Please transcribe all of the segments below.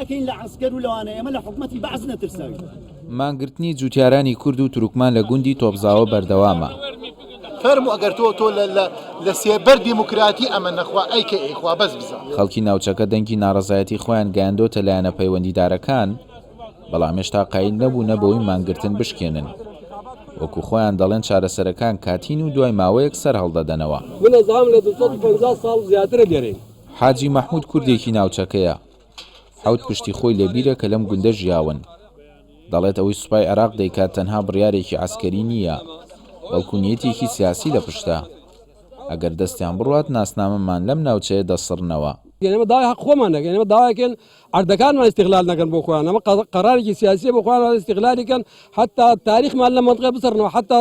ئەکەین لە عەسکەر و لەوانە ئێمە لە حکومەتی بەعس نەترساوین. مانگرتنی جووتیارانی کورد و تورکمان لە گوندی تۆپزاوە بەردەوامە. فەرموو ئەگەر تۆ تۆ لە لە لە سێبەر دیموکراتی ئەمە نەخوا ئەی کە ئێ خوا بەس بزا. خەڵکی ناوچەکە دەنگی ناڕەزایەتی خۆیان گەیاندۆتە لایەنە پەیوەندیدارەکان، بەڵام هێشتا قایل نەبوونە بەوەی مانگرتن بشکێنن. وەکو خۆیان دەڵێن چارەسەرەکان کاتین و دوای ماوەیەک سەرهەڵدەدەنەوە. حاجی مەحمود کوردێکی ناوچەکەیە، حەوت پشتی خۆی لەبیرە کە لەم گوندە ژیاون. دەڵێت ئەوەی سوپای عێراق دەیکات تەنها بڕیارێکی عەسکەری نییە، بەڵکو نیەتێکی سیاسی لە پشتە. ئەگەر دەستیان بڕوات ناسنامەمان لەم ناوچەیە دەسڕنەوە. ئێمە داوای حەق خۆمان دەکەین. ئێمە داوا دەکەین عەردەکانمان ئیستیغلال نەکەن بۆ خۆیان. ئەمە قەرارێکی سیاسییە بۆ خۆیان ئیستیغلالی کەن حەتا تاریخمان لەم مەنتقەیە بسڕنەوە. حەتا.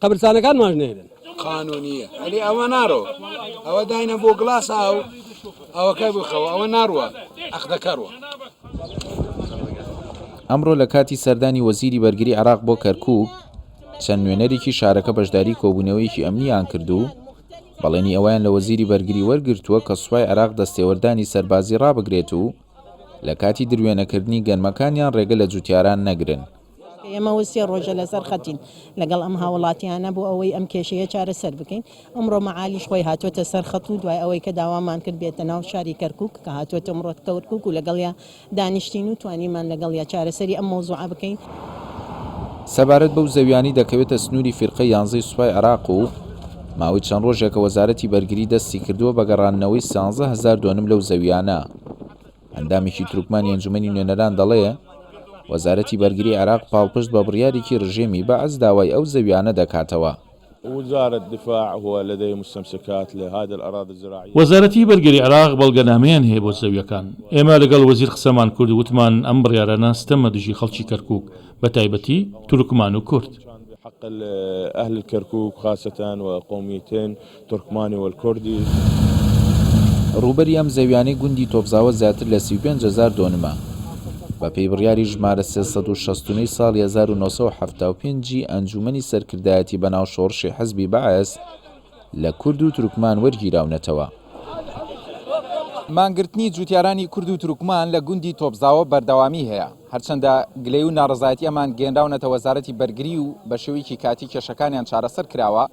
قەبرسانەکان ماش نەیرن. قانونیە ئەلی ئەوە نارۆ ئەوە داینە بۆ گلاس ئاو ئەوەکە بخەوە ئەوە ناڕوە ئەخدەکەڕوە. ئەمڕۆ لە کاتی سەردانی وەزیری بەرگری عێراق بۆ کەرکووک، چەند نوێنەرێکی شارەکە بەشداری کۆبوونەوەیەکی ئەمنییان کرد و بەڵێنی ئەوەیان لە وەزیری بەرگری وەرگرتووە کە سوپای عێراق دەستێوەردانی سەربازی ڕابگرێت و لە کاتی دروێنەکردنی گەنمەکانیان ڕێگە لە جووتیاران نەگرن. ئێمە سێ ڕۆژە لەسەر خەتین لەگەڵ ئەم هاوڵاتیانە بۆ ئەوەی ئەم کێشەیە چارەسەر بکەین، ئەمڕۆ مەعالیش خۆی هاتووەتە سەر خەت و دوای ئەوەی کە داوامان کرد بێتە ناو شاری کەرکوک کە هاتووەتە ئەمڕۆ کەرکوک و لەگەڵیا دانیشتین و توانیمان لەگەڵیا چارەسەری ئەم مەوزوعە بکەین. سەبارەت بەو زەویانەی دەکەوێتە سنووری فیرقەی یانزەی سوپای عێراق و ماوەی چەند ڕۆژێکە وەزارەتی بەرگری دەستی کردووە بە گەڕاندنەوەی سیانزە هەزار دۆنم لەو زەویانە، ئەندامێکی تورکمانی ئەنجومەنی نوێنەران دەڵێ، وەزارەتی بەرگری عێراق پاڵپشت بە بڕیارێکی رژێمی بەعس داوای ئەو زەوییانە دەکاتەوە. وەزارەتی بەرگری عێراق بەڵگەنامەیان هەیە بۆ زەوییەکان. ئێمە لەگەڵ وەزیر قسەمان کرد و وتمان ئەم بڕیارانە ستەمە دژی خەڵکی کەرکووک، بەتایبەتی تورکمان و کورد. ترکمانی والکردی. ڕووبەری ئەم زەویانەی گوندی تۆپزاوە زیاتر لە سی و پێنج هەزار دۆنمە. بە پێی بڕیاری ژمارە سێ سەد و شەست و نۆ ی ساڵی هەزار و نۆ سەد و حەفتا و پێنج ی ئەنجوومەنی سەرکردایەتی بەناو شۆڕشی حزبی بەعس لە کورد و ترکمان وەرگیراونەتەوە. مانگرتنی جووتیارانی کورد و ترکمان لە گوندی تۆپزاوە بەردەوامیی هەیە، هەرچەندە گلەیی و ناڕەزایەتییەمان گەیەنراونەتە وەزارەتی بەرگری و بە شێوەیەکی کاتی کێشەکانیان چارەسەر کراوە،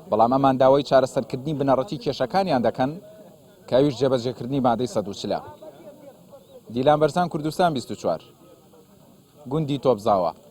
بەڵام ئەمان داوای چارەسەرکردنی بنەڕەتی کێشەکانیان دەکەن کە ئەویش جێبەجێکردنی مادەی سەد و چلە. دیلان بەرزان کوردستان بیست و چوار. گوندی تۆپزاوا.